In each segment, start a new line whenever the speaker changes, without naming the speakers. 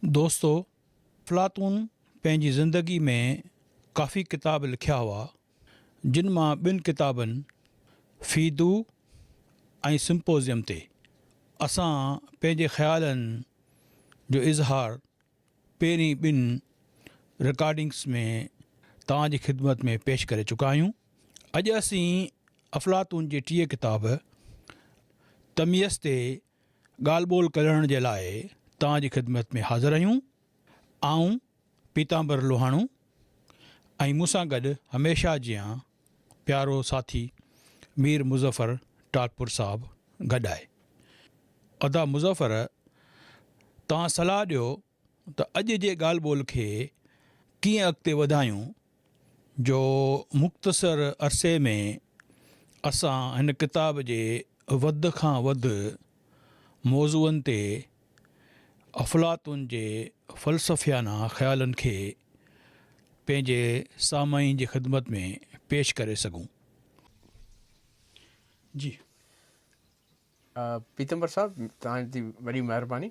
دوستو! افلاطون پنهنجي زندگي ۾ ڪافي ڪتاب لکيا هئا، جن مان ٻن ڪتابن فيدو ۽ سمپوزيم تي اسان پنهنجي خيالن جو اظهار پهرين ٻن رڪارڊنگس ۾ توهان جي خدمت ۾ پيش ڪري چڪا آهيون. اڄ اسين افلاطون جي ٽئين ڪتاب تميز تي ڳالهه ٻولهه ڪرڻ جي لاء توهان جي خدمت ۾ حاضر آهيون. آئون پيتامبر لوهاڻو ۽ مون سان گڏ هميشه جيان پيارو ساٿي مير مظفر ٽالپر صاحب گڏ آهي. ادا مظفر توهان صلاح ڏيو ته اڄ جي ڳالهه ٻولهه کي ڪيئن اڳتي وڌايون جو مختصر عرصي ۾ اسان هن ڪتاب جي وڌ کان وڌ موضوعن تي افلاطون جي فلسفيانه خيالن کي پنهنجي سامعين جي خدمت ۾ پيش ڪري سگهون. جي
پيتمبر صاحب توهان جي وڏي مهرباني.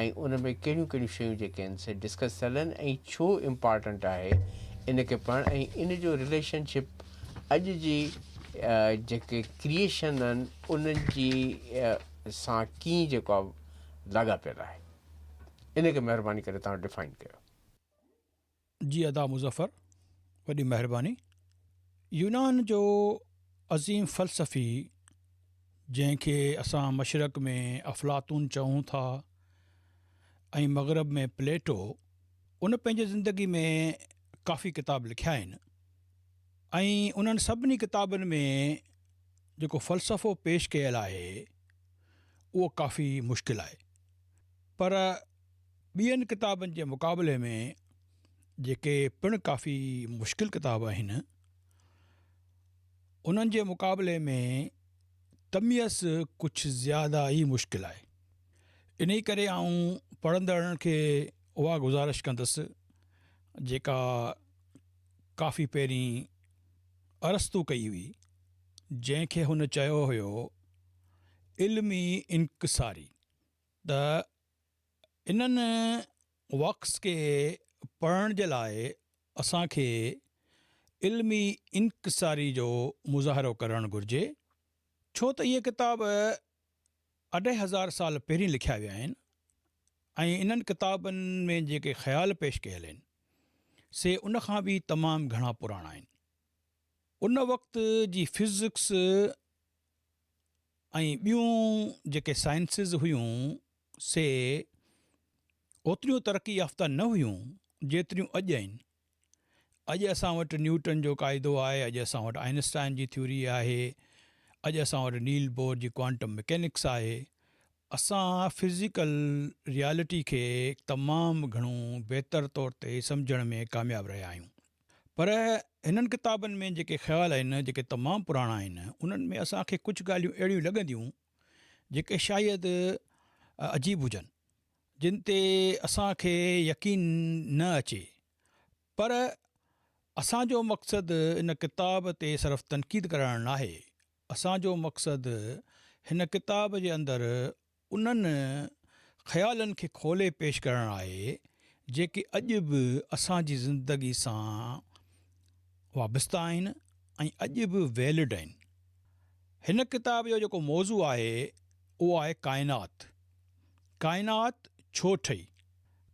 ۽ ان ۾ ڪهڙيون ڪهڙيون شيون جيڪي آهن سي ڊسڪس ٿيل آهن ۽ ڇو امپارٽنٽ آهي ان کي پڙهڻ ۽ ان جو رليشن شپ اڄ جي جيڪي ڪريئشن آهن انهن جي سان ڪيئن جيڪو آهي لاڳاپيل آهي ان کي مهرباني ڪري تان ڊفائن ڪيو.
جي ادا مظفر وڏي مهرباني. يونان جو عظيم فلسفي جنهن کي اسان مشرق ۾ افلاطون چئون ٿا ۽ مغرب ۾ پليٽو ان پنهنجي زندگي ۾ ڪافي ڪتاب لکيا آهن ۽ انهن سڀني ڪتابن ۾ جيڪو فلسفو پيش ڪيل آهي اهو ڪافي مشڪل آهي پر ٻين ڪتابن جي مقابلي ۾ جيڪي پڻ ڪافي مشڪل ڪتاب آهن انهن جي مقابلي ۾ تميز ڪجهه زياده ئي مشڪل آهي انهي ڪري آئون پڙهندڙن کي اها گذارش ڪندس جيڪا ڪافي پهرين ارسطو ڪئي هئي جنهن کي هن چيو هيو علمي انڪساري ته انهن ورڪس کي پڙهڻ جي لاء اسان کي علمي انڪساري جو مظاهرو ڪرڻ گهرجي ڇو ته اهي ڪتاب اڍائي هزار سال پهرين لکيا ويا آهن ۽ انهن ڪتابن ۾ جيڪي خيال پيش ڪيل آهن سي ان کان به تمام گهڻا پراڻا آهن ان وقت جي فزڪس ۽ ٻيون جيڪي سائنسز هيون سي اوتريون ترقي يافته نه هيون جيتريون اڄ آهن. اڄ اسان وٽ نيوٽن جو قاعدو آهي، اڄ اسان وٽ آئنسٽائن جي ٿيوري آهي، اڄ اسان وٽ نيل بور جي ڪوانٽم مڪينڪس آهي. اسان فزيڪل ريالٽي کي تمام گهڻو بهتر طور تي سمجهڻ ۾ ڪامياب رهيا آهيون. پر هنن ڪتابن ۾ جيڪي خيال آهن، جيڪي تمام پراڻا آهن، انهن ۾ اسان کي ڪجهه ڳالهيون اهڙيون لڳنديون، جيڪي شايد عجيب هجن، جن تي اسان کي يقين نه اچي، پر اسان جو مقصد ان ڪتاب تي صرف تنقيد ڪرڻ ناهي، اسان جو مقصد هن ڪتاب جي اندر انهن خيالن کي کولي پيش ڪرڻ آهي جيڪي اڄ به اسان جي زندگي سان وابسته آهن ۽ اڄ به ويلڊ آهن. هن ڪتاب جو جيڪو موضوع آهي اهو آهي ڪائنات. ڪائنات ڇو ٺهي؟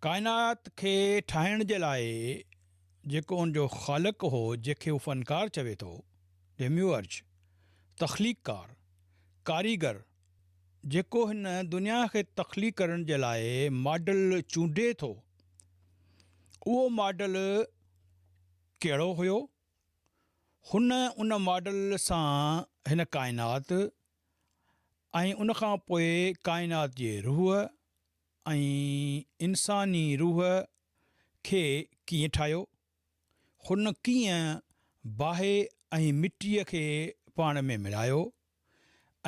ڪائنات کي ٺاهڻ جي لاء جيڪو ان جو خالق هو جنهن کي هو فنڪار چوي ٿو، Demiurge، تخليق ڪار، ڪاريگر، جيڪو هن دنيا کي تخليق ڪرڻ جي لاء ماڊل چونڊي ٿو، اهو ماڊل ڪهڙو هيو؟ هن ان ماڊل سان هن ڪائنات ۽ ان کان پوء ڪائنات جي روح ۽ انساني روح کي ڪيئن ٺاهيو؟ هن ڪيئن باهه ۽ مٽيء کي پاڻ ۾ ملايو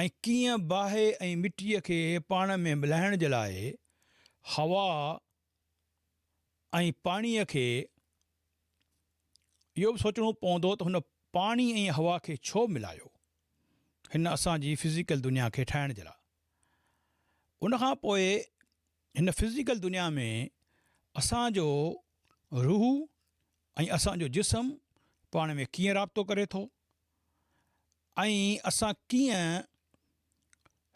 ۽ ڪيئن باهه ۽ مٽيء کي پاڻ ۾ ملائڻ جي لاء هوا ۽ پاڻيء کي اهو به سوچڻو پوندو ته هن پاڻي ۽ هوا کي ڇو ملايو هن اسان جي فزيڪل دنيا کي ٺاهڻ جي لاء ان کان پوء هن فزيڪل دنيا ۾ اسان جو روح ۽ اسان جو جسم پاڻ ۾ ڪيئن رابطو ڪري ٿو ۽ اسان ڪيئن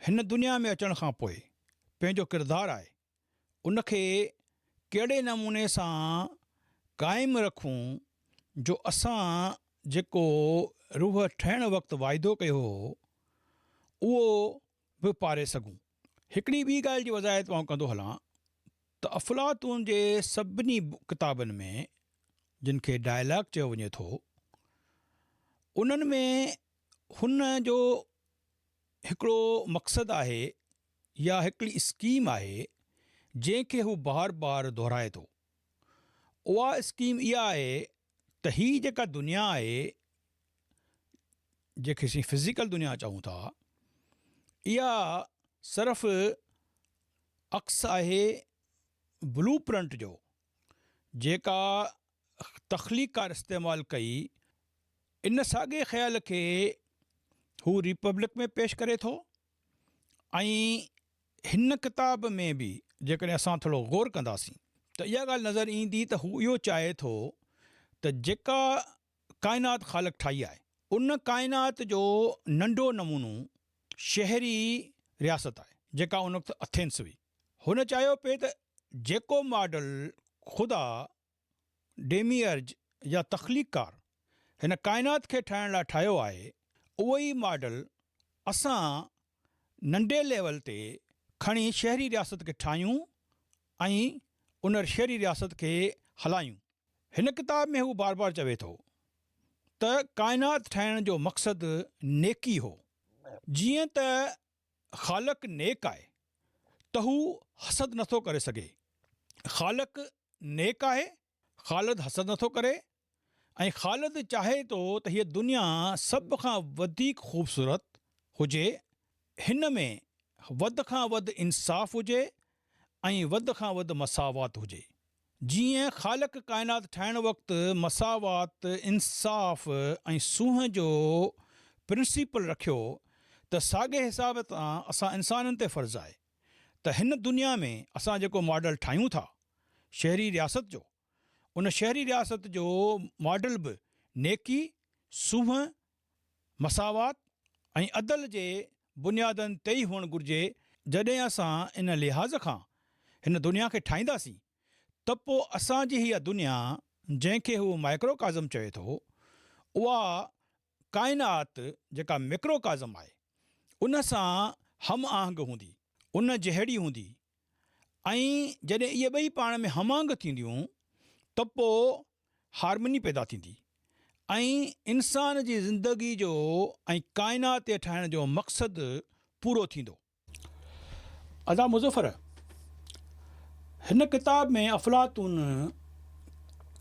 هن دنيا ۾ اچڻ کان پوء پنهنجو ڪردار آهي ان کي ڪهڙي نموني سان قائم رکون جو اسان جيڪو روح ٺهڻ وقت واعدو ڪيو هو اهو به پاري سگهون. هڪڙي ٻي ڳالهه جي وضاحت آئون ڪندو هلان ته افلاطون جي سڀني ڪتابن ۾ جن کي ڊائلاگ چيو وڃي ٿو انهن ۾ هن جو هڪڙو مقصد آهي يا هڪڙي اسڪيم آهي جنهن کي هو بار بار دهرائي ٿو. اها اسڪيم اها آهي ته هي جيڪا دنيا آهي. جنهن کي اسين فزيڪل دنيا چئون ٿا اها صرف عڪس آهي بلو پرنٽ جو جيڪا تخليقڪار استعمال ڪئي ان ساڳي خيال کي هو ريپبلڪ ۾ پيش ڪري ٿو ۽ هن ڪتاب ۾ به جيڪڏهن اسان ٿورو غور ڪنداسين ته اها ڳالهه نظر ايندي ته هو اهو چاهي ٿو ته جيڪا ڪائنات خالق ٺاهي آهي. ان ڪائنات جو ننڍو نمونو شهري رياست آهي، جيڪا ان وقت اٿينس هئي. هن چاهيو پئي ته جيڪو ماڊل خدا، ڊيميئرج يا تخليقڪار، هن ڪائنات کي ٺاهڻ لاء ٺاهيو آهي، اهو ئي ماڊل اسان ننڍي ليول تي کڻي شهري رياست کي ٺاهيون ۽ ان شهري رياست کي هلايون. هن ڪتاب ۾ هو بار بار چوي ٿو ته ڪائنات ٺاهڻ جو مقصد نيڪي هو. جيئن ته خالق نيڪ آهي ته هو حسد نٿو ڪري سگهي. خالق نيڪ آهي خالد حسد نٿو ڪري ۽ خالد چاهي ٿو ته هيء دنيا سڀ کان وڌيڪ خوبصورت هجي، هن ۾ وڌ کان وڌ انصاف هجي ۽ وڌ کان وڌ مساوات هجي. جيئن خالق ڪائنات ٺاهڻ وقت مساوات، انصاف ۽ سونهن جو پرنسيپل رکيو ته ساڳئي حساب سان اسان انسانن تي فرض آهي. ته هن دنيا ۾ اسان جيڪو ماڊل ٺاهيون ٿا شهري رياست جو، ان شهري رياست جو ماڊل به نيڪي، سونهن، مساوات ۽ عدل جي بنيادن تي ئي هئڻ گهرجي، جڏهن اسان ان لحاظ کان هن دنيا کي ٺاهينداسين ته پوء اسان جي اها دنيا جنهن کي هو مائڪروڪازم چوي ٿو، اها ڪائنات جيڪا ميڪرو ڪازم آهي ان سان هم آهنگ هوندي، ان جهڙي هوندي ۽ جڏهن اهي ٻئي پاڻ ۾ هم آهنگ ٿينديون ته پوء هارمني پيدا ٿيندي ۽ انسان جي زندگي جو ۽ ڪائنات جي ٺاهڻ جو مقصد پورو ٿيندو. ادا مظفر هن ڪتاب ۾ افلاطون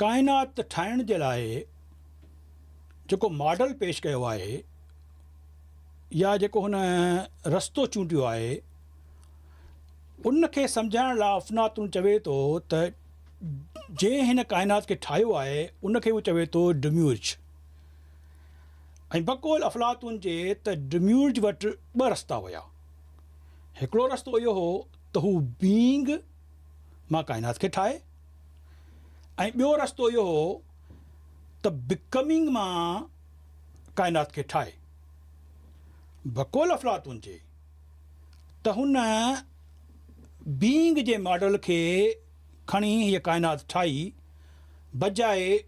ڪائنات ٺاهڻ جي لاء جيڪو ماڊل پيش ڪيو آهي يا جيڪو هن رستو چونڊيو آهي ان کي سمجهائڻ لاء افلاطون چوي ٿو ته جنهن هن ڪائنات کي ٺاهيو آهي ان کي هو چوي ٿو ڊميورج ۽ بقول افلاطون جي ته ڊميورج وٽ ٻه رستا هيا. هڪڙو رستو اهو هو ته هو Being مان ڪائنات کي ٺاهي ۽ ٻيو رستو اهو هو ته Becoming مان ڪائنات کي ٺاهي. بقول افلاطون جي ته هن Being جي ماڊل کي کڻي هيء ڪائنات ٺاهي، بجاء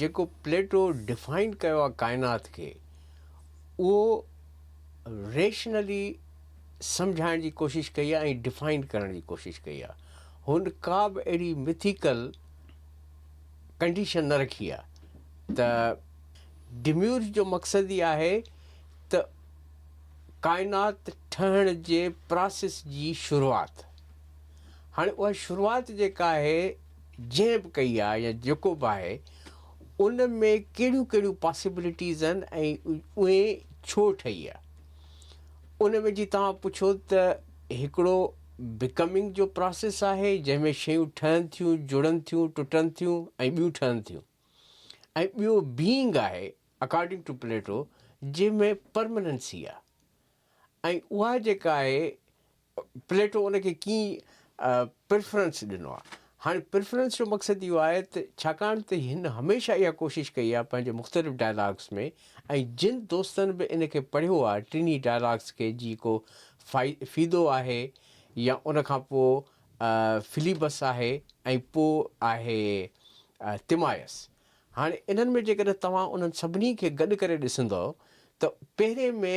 جيڪو پليٽو ڊفائن ڪيو آهي ڪائنات کي اهو ريشنلي سمجهائڻ جي ڪوشش ڪئي آهي ۽ ڊفائن ڪرڻ جي ڪوشش ڪئي آهي هن ڪا به اهڙي مٿيڪل ڪنڊيشن نه رکي آهي ته ڊميورج جو مقصد ئي آهي ته ڪائنات ٺهڻ جي پراسيس جي شروعات هاڻي اها شروعات جيڪا آهي جنهن به ڪئي آهي يا جيڪو به آهي ان ۾ ڪهڙيون ڪهڙيون پاسيبلٽيز آهن ۽ اهي ڇو ٺهي آهي ان ۾ جي توهان پڇو ته هڪڙو بڪمنگ جو پراسيس آهي جنهن ۾ شيون ٺهن ٿيون جڙن ٿيون ٽٽن ٿيون ۽ ٻيون ٺهن ٿيون ۽ ٻيو بيئنگ آهي اڪارڊنگ ٽو پليٽو جنهن ۾ پرمننسي آهي ۽ اها جيڪا آهي پليٽو ان کي ڪيئي پريفرنس ڏنو آهي. هاڻي پريفرنس جو مقصد اهو آهي ته ڇاڪاڻ ته هن هميشه اها ڪوشش ڪئي آهي پنهنجي مختلف ڊائلاگس ۾ ۽ جن دوستن به ان کي پڙهيو آهي ٽنهي ڊائلاگس کي جي ڪو فيدو آهي يا ان کان پوء فليبس آهي ۽ پوء آهي تمايس. هاڻي انهن ۾ جيڪڏهن توهان انهن سڀني کي گڏ ڪري ڏسندؤ ته پهرين ۾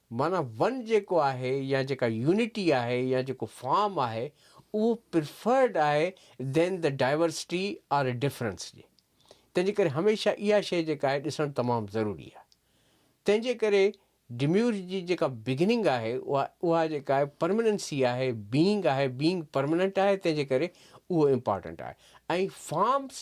معنيٰ ون جيڪو آهي يا جيڪا يونٽي آهي يا جيڪو فارم آهي اهو پريفرڊ آهي than the diversity or difference جي تنهن جي ڪري هميشه اها شيء جيڪا آهي ڏسڻ تمام ضروري آهي تنهن جي ڪري ڊميورج جي جيڪا بگننگ آهي اها اها جيڪا آهي پرمننسي آهي بينگ آهي بينگ پرمننٽ آهي تنهن جي ڪري اهو امپارٽنٽ آهي ۽ فارمس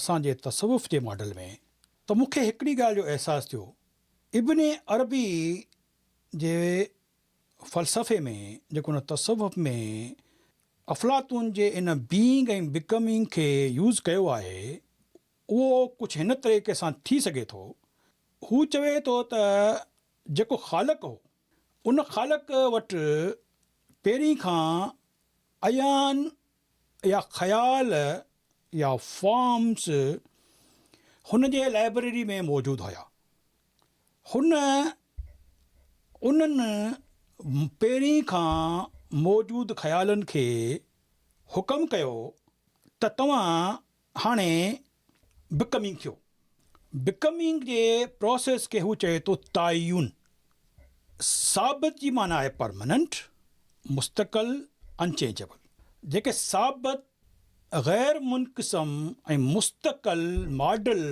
اسان جي تصوف جي ماڊل ۾ ته مون کي هڪڙي ڳالهه جو احساس ٿيو ابن عربي جي فلسفي ۾ جيڪو ان تصوف ۾ افلاطون جي ان Being ۽ Becoming کي يوز ڪيو آهي اهو ڪجهه هن طريقي سان ٿي سگهي ٿو هو چوي ٿو ته جيڪو خالق هو ان خالق وٽ پهرين کان عيان يا خيال يا فارمز هن جي لائبريري ۾ موجود هيا. هن انهن پهرين کان موجود خيالن کي حڪم ڪيو ته توهان هاڻي بڪمنگ ٿيو. بڪمنگ جي پراسيس کي هو چئي ٿو تعين. ثابت جي معنيٰ آهي پرماننٽ، مستقل، Unchangeable. جيڪي ثابت، غير منقسم ۽ مستقل ماڊل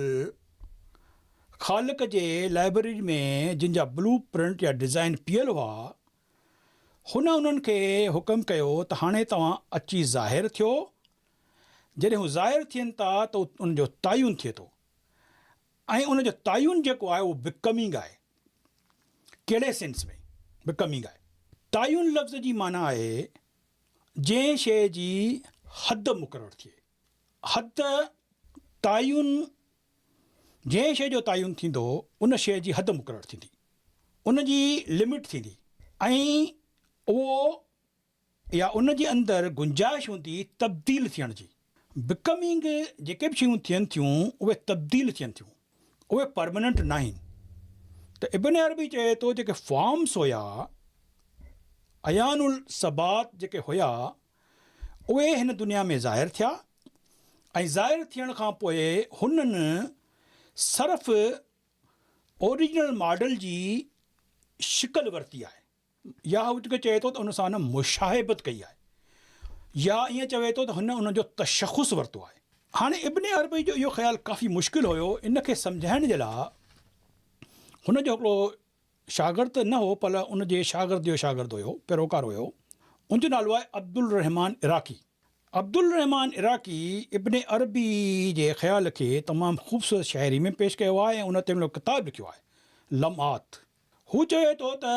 خالق جي لائبريري ۾ جن جا بلو پرنٽ يا ڊزائين پيل هئا، هن انهن کي حڪم ڪيو ته هاڻي توهان اچي ظاهر ٿيو جڏهن هو ظاهر ٿين ٿا ته ان جو تعين ٿئي ٿو ۽ ان جو تعين جيڪو آهي اهو بڪمنگ آهي. ڪهڙي سينس ۾ بڪمنگ آهي؟ تعين لفظ جي معنيٰ آهي جنهن شيء جي حد مقرر ٿئي. حد تعين جنهن شيء جو تعين ٿيندو ان شيء جي حد مقرر ٿيندي، ان جي لمٽ ٿيندي ۽ اهو يا ان جي اندر گنجائش هوندي تبديل ٿيڻ جي. Becoming جيڪي به شيون ٿين ٿيون اهي تبديل ٿين ٿيون اهي پرمننٽ ناهن ته ابن عربي چئي ٿو جيڪي فارمس هيا عيان الثبات جيڪي هيا اهي هن دنيا ۾ ظاهر ٿيا ۽ ظاهر ٿيڻ کان پوء هنن صرف اوريجنل ماڊل جي شڪل ورتي آهي. ياهوتڪ چوي ٿو ته هن سان هن مشاهبت ڪئي آهي يا ائين چوي ٿو ته هن ان جو تشخص ورتو آهي. هاڻي ابن عربي جو اهو خيال ڪافي مشڪل هيو، ان کي سمجهائڻ جي لاء هن جو هڪڙو شاگرد ته نه هو پر ان جي شاگرد جو شاگرد هيو، پيروڪار هيو، ان جو نالو آهي عبدالرحمان عراقي. عبدالرحمان عراقي ابن عربي جي خيال کي تمام خوبصورت شاعري ۾ پيش ڪيو آهي ۽ ان تي هن هڪڙو ڪتاب لکيو آهي لمعات. هو چوي ٿو ته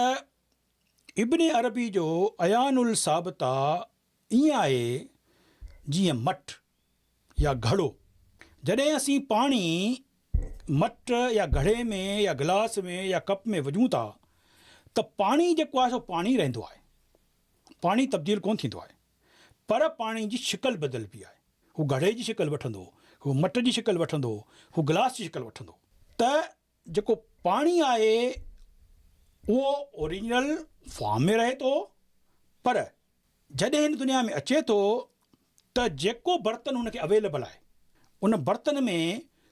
ابن عربي جو عيان الثابته ائين آهي جيئن مٽ يا گهڙو. جڏهن اسين پاڻي مٽ يا گهڙي ۾ يا گلاس ۾ يا ڪپ ۾ وجهون ٿا ته پاڻي جيڪو آهي سو پاڻي رهندو آهي. پاڻي تبديل ڪونه ٿيندو آهي. پر پاڻي جي شڪل بدلبي آهي. هو گهڙي جي شڪل وٺندو، هو مٽ جي شڪل وٺندو، هو گلاس جي شڪل وٺندو. ته جيڪو پاڻي آهي اهو اوريجنل فارم ۾ رهي ٿو پر جڏهن هن دنيا ۾ اچي ٿو ته جيڪو برتن هن کي اويليبل آهي ان برتن ۾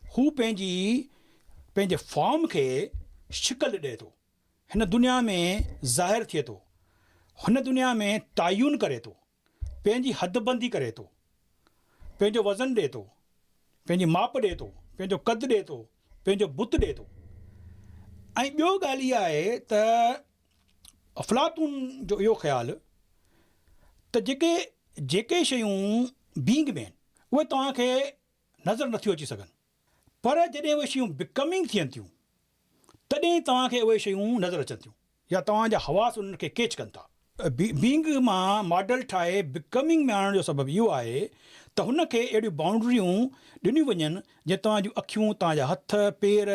هو پنهنجي پنهنجي فارم کي شڪل ڏئي ٿو هن دنيا ۾ ظاهر ٿئي ٿو هن دنيا ۾ تعين ڪري ٿو پنهنجي حد بندي ڪري ٿو، پنهنجو وزن ڏئي ٿو، پنهنجي ماپ ڏئي ٿو، پنهنجو قد ڏئي ٿو، پنهنجو بت ڏئي ٿو ۽ ٻيو ڳالهه اها آهي ته افلاطون جو اهو خيال ته جيڪي جيڪي شيون بينگ ۾ آهن اهي توهان کي نظر نٿيون اچي سگهن. پر جڏهن اهي شيون Becoming ٿين ٿيون تڏهن توهان کي اهي شيون نظر اچن ٿيون يا توهان جا حواس انهن کي ڪيچ ڪن ٿا. Being مان ماڊل ٺاهي Becoming ۾ آڻڻ جو سبب اهو آهي ته هن کي اهڙيون بائونڊريون ڏنيون وڃن جئين توهان جون اکيون، توهان جا هٿ، پير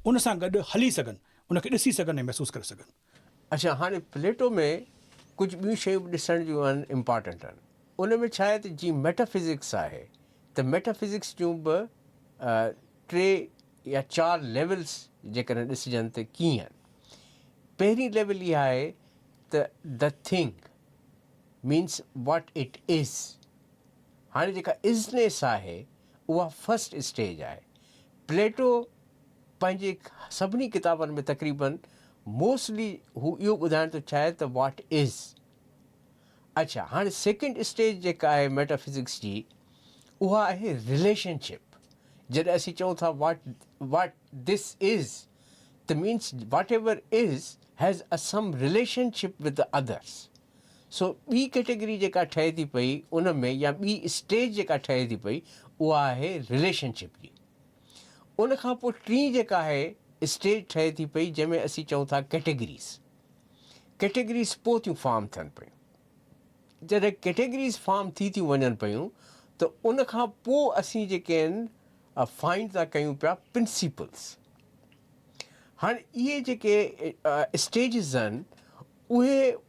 ان سان گڏ هلي سگهن، ان کي ڏسي سگهن ۽ محسوس ڪري سگهن. اچا هاڻي
پليٽو ۾ ڪجهه ٻيون شيون به ڏسڻ جون آهن امپارٽنٽ آهن ان ۾ ڇا آهي ته جيئن ميٽا فزڪس آهي ته ميٽا فزڪس جون به ٽي يا چار ليولس جيڪڏهن ڏسجن ته ڪيئن آهن پهرين ليول اها آهي ته the thing means what it is هاڻي جيڪا ازنيس آهي اها فرسٽ اسٽيج آهي پليٽو پنهنجي سڀني ڪتابن ۾ تقريبن موسٽلي هو اهو ٻڌائڻ ٿو چاهي ته واٽ از. اڇا هاڻي سيڪنڊ اسٽيج جيڪا آهي ميٽافزڪس جي اها آهي رليشن شپ جڏهن اسين چئون ٿا واٽ واٽ ڌس از ته means whatever is has a some relationship with others so ٻي ڪيٽيگري جيڪا ٺهي ٿي پئي ان ۾ يا ٻي اسٽيج جيڪا ٺهي ٿي پئي اها آهي رليشن شپ جي ان کان پوء ٽين جيڪا آهي اسٽيج ٺهي ٿي پئي جنهن ۾ اسين چئون ٿا ڪيٽيگريز. ڪيٽيگريز پوء ٿيون فارم ٿين پيون. جڏهن ڪيٽيگريز فارم ٿي ٿيون وڃن پيون ته ان کان پوء اسين جيڪي آهن فائنڊ ٿا ڪيون پيا پرنسيپلز. هاڻي اهي جيڪي اسٽيجز آهن اهي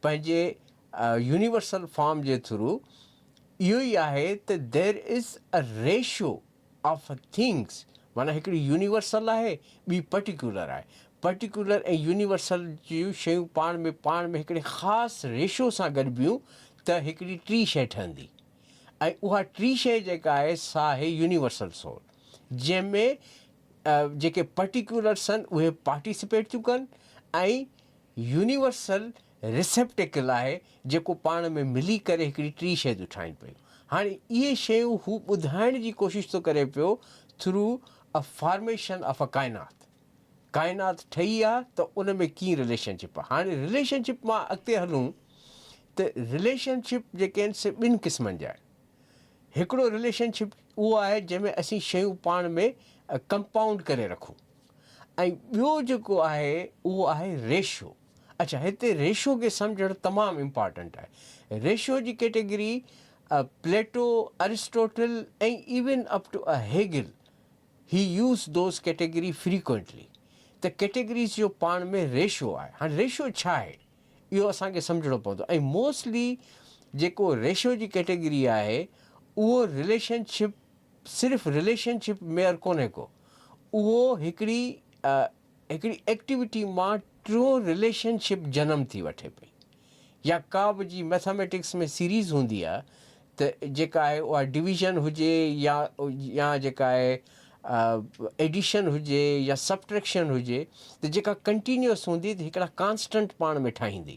پنهنجي يونيورسل فارم جي ٿرو اهو ئي آهي ته There is a ratio of things معنيٰ هڪڙي يونيورسل آهي ٻي پرٽيڪيولر آهي. پرٽيڪيولر ۽ يونيورسل جون شيون پاڻ ۾ پاڻ ۾ هڪڙي خاص ريشو سان گڏبيون ته هڪڙي ٽي شيء ٺهندي ۽ اها ٽي شيء جيڪا آهي سا آهي يونيورسل سول جنهن ۾ جيڪي پرٽيڪيولرس آهن اهي پارٽيسپيٽ ٿيون ڪن ۽ يونيورسل ريسيپٽيڪل آهي جيڪو پاڻ ۾ ملي ڪري هڪڙي ٽي شيء ٿيون ٺاهين پيون. هاڻي اهي شيون هو ٻڌائڻ جي ڪوشش ٿو ڪري پيو through a formation of a ڪائنات. ڪائنات ٺهي آ ته ان ۾ ڪيئن رليشن شپ آ. هاڻي رليشن شپ مان اڳتي هلون ته رليشن شپ جيڪي آهن سي ٻن قسمن جا آهن. هڪڙو رليشن شپ اهو آهي جنهن ۾ اسين شيون پاڻ ۾ ڪمپائونڊ ڪري رکون. ۽ ٻيو جيڪو آهي اهو آهي ريشو اڇا هتي ريشو کي سمجهڻ تمام امپارٽنٽ آهي ريشو جي category Plato Aristotle ۽ even up to a Hegel he uses those category frequently ته ڪيٽيگريز جو پاڻ ۾ ريشو آهي هاڻي ريشو ڇا آهي اهو اسان کي سمجهڻو پوندو ۽ موسٽلي جيڪو ريشو جي ڪيٽيگري آهي اهو رليشن شپ صرف رليشن شپ ميئر ڪونهي ڪو اهو هڪڙي هڪڙي ايڪٽيوٽي مان ٽيون رليشن شپ جنم ٿي وٺي پئي يا ڪا به جي ميٿاميٽڪس ۾ سيريز هوندي آهي ته جيڪا آهي اها ڊويزن هجي يا يا جيڪا آهي ايڊيشن هجي يا سبٽريڪشن هجي ته جيڪا ڪنٽينيوس هوندي ته هڪڙا ڪانسٽنٽ پاڻ ۾ ٺاهيندي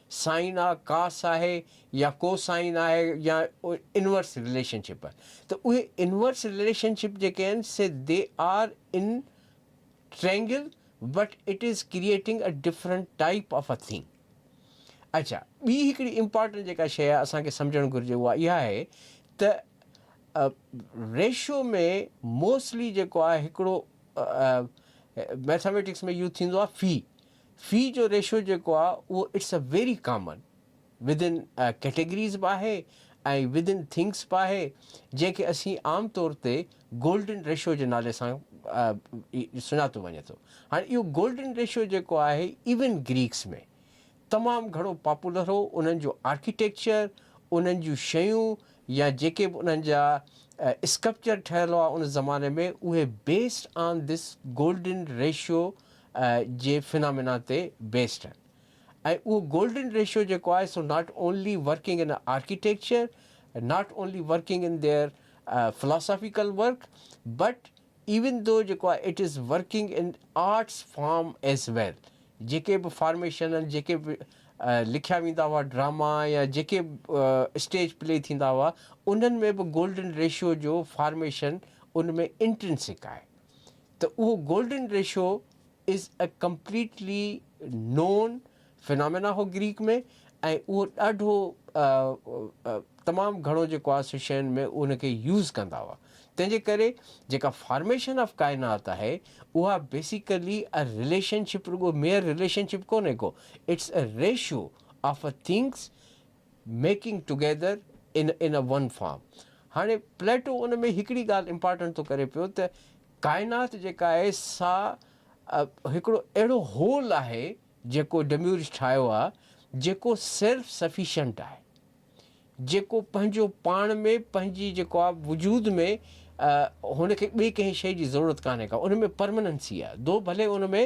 سائن آ ڪاس آهي يا ڪوسائن آهي يا انورس رليشن شپ آهي ته اهي انورس رليشن شپ جيڪي آهن see they are in triangle but it is creating a different type of a thing. اڇا ٻي هڪڙي امپارٽنٽ جيڪا شيء اسان کي سمجهڻ گهرجي اها اها آهي ته ريشو ۾ موسٽلي جيڪو آهي هڪڙو ميٿاميٽڪس ۾ يوز ٿيندو آهي في في جو ريشو جيڪو آهي اهو it's a very common within categories به آهي ۽ وڌن ٿنگس به آهي جنهن کي اسين عام طور تي گولڊن ريشو جي نالي سان سڃاتو وڃي ٿو هاڻي اهو گولڊن ريشو جيڪو آهي ايون گريڪس ۾ تمام گهڻو پاپولر هو انهن جو آرڪيٽيڪچر انهن جون شيون يا جيڪي به انهن جا اسڪپچر ٺهيل هئا ان زماني ۾ اهي based on this golden ratio جي فنامينا تي بيسڊ آهن ۽ اهو گولڊن ريشو جيڪو آهي so not only working in architecture not only working in their philosophical work but even though جيڪو آهي it is working in arts form as well جيڪي به فارميشن آهن جيڪي به لکيا ويندا هئا ڊراما يا جيڪي اسٽيج پلي ٿيندا هئا انهن ۾ به گولڊن ريشو جو فارميشن ان ۾ انٽرنسڪ آهي ته اهو golden ratio is a completely new phenomena هو گريڪ ۾ ۽ اهو ڏاڍو تمام گهڻو جيڪو آهي سو شين ۾ ان کي يوز ڪندا هئا تنهن جي ڪري جيڪا فارميشن آف ڪائنات آهي اها بيسيڪلي ا رليشن شپ رڳو ميئر رليشن شپ ڪونهي ڪو it's a ratio of a things making together in in a one form. هاڻي پليٽو ان ۾ هڪڙي ڳالهه امپارٽنٽ ٿو ڪري پيو ته ڪائنات جيڪا آهي سا هڪڙو اهڙو هول آهي جيڪو ڊميورج ٺاهيو آهي جيڪو سيلف سفيشنٽ آهي جيڪو پنهنجو پاڻ ۾ پنهنجي جيڪو آهي وجود ۾ هن کي ٻئي ڪنهن شيء جي ضرورت ڪانهي ڪا ان ۾ پرمننسي آهي دو ڀلي ان ۾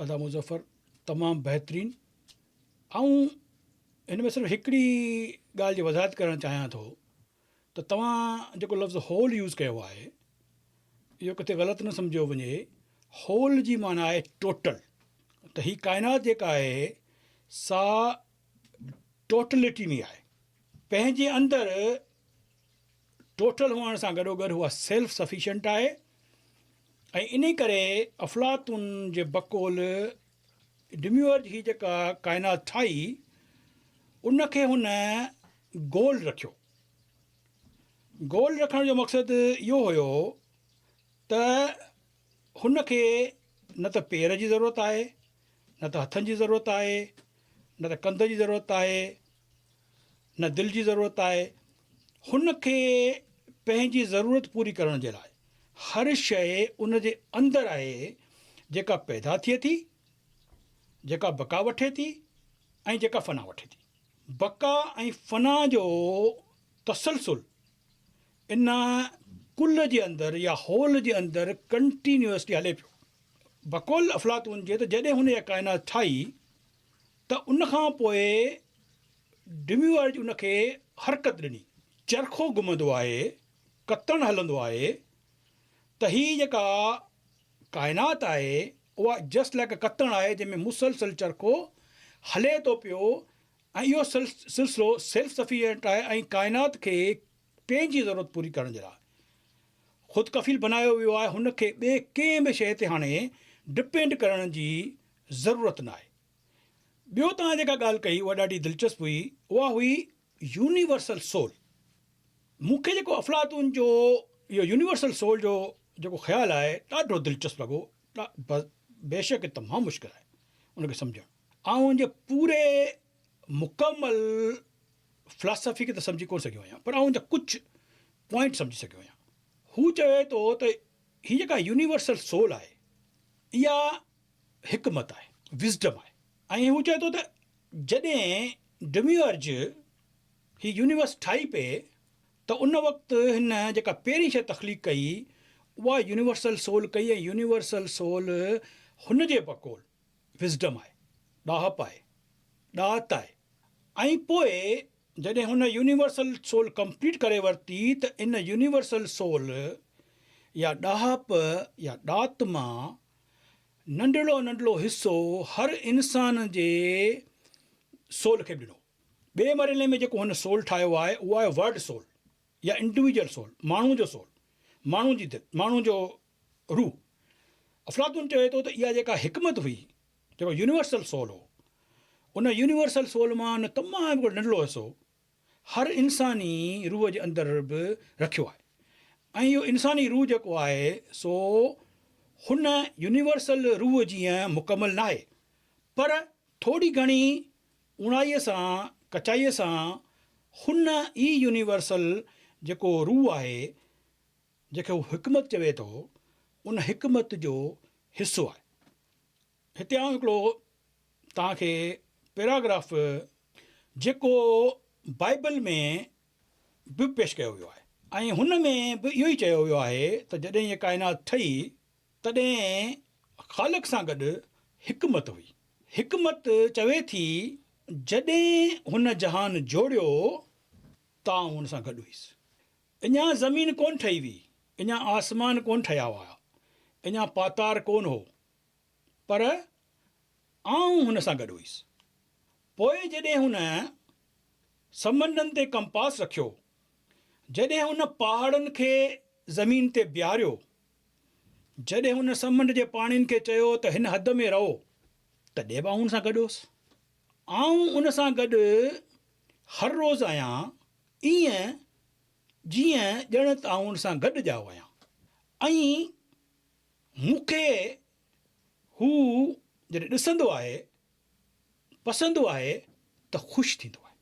ادا مظفر تمام بهترين آئون هن ۾ صرف هڪڙي ڳالهه جي وضاحت ڪرڻ چاهيان ٿو ته توهان جيڪو لفظ هول يوز ڪيو آهي اهو ڪٿي غلط نه سمجهيو وڃي هول جي معنيٰ آهي ٽوٽل ته هي ڪائنات جيڪا آهي سا ٽوٽلٽي ۾ آهي پنهنجي اندر ٽوٽل هئڻ سان گڏوگڏ هوء سيلف سفيشنٽ آهي ۽ انهي ڪري افلاطون جي بقول ڊميورج هي جيڪا ڪائنات ٺاهي ان کي هن گول رکيو. گول رکڻ جو مقصد اهو هيو ته هن کي نه ته پير جي ضرورت آهي، نه ته هٿن جي ضرورت آهي، نه ته ڪنڌ جي ضرورت آهي، نه دل جي ضرورت آهي. هن کي پنهنجي ضرورت پوري ڪرڻ جي لاء هر شيء ان جي اندر آهي جيڪا پيدا ٿئي ٿي، جيڪا بقا وٺي ٿي ۽ جيڪا فنا وٺي ٿي. بقا ۽ فنا جو تسلسل ان ڪل جي اندر يا هول جي اندر ڪنٽينيوئسلي هلي پيو. بقول افلاطون جي ته جڏهن هن اها ڪائنات ٺاهي ته ان کان پوء ڊميورج ان کي حرڪت ڏني. چرخو گهمندو آهي، ڪتڻ هلندو آهي ته هي جيڪا ڪائنات آهي اها جسٽ لائيڪ اي ڪتڻ آهي جنهن ۾ مسلسل چرخو هلي ٿو پيو ۽ اهو سلسلو سيلف سفيشنٽ آهي ۽ ڪائنات کي پنهنجي ضرورت پوري ڪرڻ جي لاء خود ڪفيل بنايو ويو آهي هن کي ٻي ڪنهن به شيء تي هاڻي ڊپينڊ ڪرڻ جي ضرورت نه آهي. ٻيو توهان جيڪا ڳالهه ڪئي اها ڏاڍي دلچسپ هئي اها هئي يونيورسل سول مون کي جيڪو افلاطون جو اهو يونيورسل سول جو جيڪو خيال آهي ڏاڍو دلچسپ لڳو بيشڪ تمام مشڪل آهي ان کي سمجهڻ آئون ان جي پوري مڪمل فلاسافي کي ته سمجهي ڪونه سگهيو آهيان پر آئون ان جا ڪجهه پوائنٽ سمجهي سگهيو آهيان. هو چوي ٿو ته هي جيڪا يونيورسل سول آهي اها حڪمت آهي، Wisdom، آهي ۽ هو چوي ٿو ته جڏهن ڊميورج هي يونيورس ٺاهي پئي ته ان وقت هن جيڪا پهرين شيء تخليق ڪئي اها يونيورسل سول ڪئي ۽ يونيورسل سول هن جي بقول Wisdom، آهي، ڏاهپ آهي، ڏات آهي ۽ پوء جڏهن هن يونيورسل سول ڪمپليٽ ڪري ورتي ته ان يونيورسل سول يا ڏاهپ يا ڏات مان ننڍڙو ننڍڙو حصو هر انسان جي سول کي به ڏنو. ٻئي مرحلي ۾ جيڪو هن سول ٺاهيو آهي اهو آهي ورلڊ سول يا انڊويجل سول، ماڻهو جو سول، ماڻهو جي دل، ماڻهو جو روح، افلاطون چوي ٿو ته اها جيڪا حڪمت هئي، جيڪو يونيورسل سول هو، ان يونيورسل سول مان ان تمام هڪڙو ننڍڙو حصو هر انساني روح جي اندر به رکيو آهي ۽ اهو انساني روح جيڪو آهي سو هن يونيورسل روح جيئن مڪمل ناهي پر ٿوري گهڻي اوڻائيء سان ڪچائيء سان هن ئي يونيورسل جيڪو روح آهي جنهن کي هو حڪمت چوي ٿو، ان حڪمت جو حصو آهي. هتي آئون هڪڙو توهان کي پيراگراف جيڪو بائيبل ۾ به پيش ڪيو ويو آهي ۽ هن ۾ به اهو ئي چيو ويو آهي ته جڏهن هيء ڪائنات ٺهي تڏهن خالق سان گڏ حڪمت هئي. حڪمت چوي ٿي، جڏهن هن جهان جوڙيو ته آئون هن سان گڏ هيس. اڃا زمين ڪونه ٺهي هئي، اڃا آسمان ڪونه ٺهيا هئا، اڃا پاتار ڪونه هو، پر آئون هن سان گڏ هئس. پوء جڏهن هن سمنڊن تي ڪمپاس رکيو، جڏهن هن پهاڙن کي زمين تي بيهاريو، جڏهن هن سمنڊ جي پاڻين کي چيو ته هن حد ۾ رهو، تڏهن به آئون هن سان گڏ هوس. آئون ان سان گڏ هر روز آهيان، ائين جيئن ڄڻ ته آئون ان سان گڏ ڄائو آهيان ۽ مون کي هو جڏهن ڏسندو آهي، پسندو آهي ته خوش ٿيندو آهي.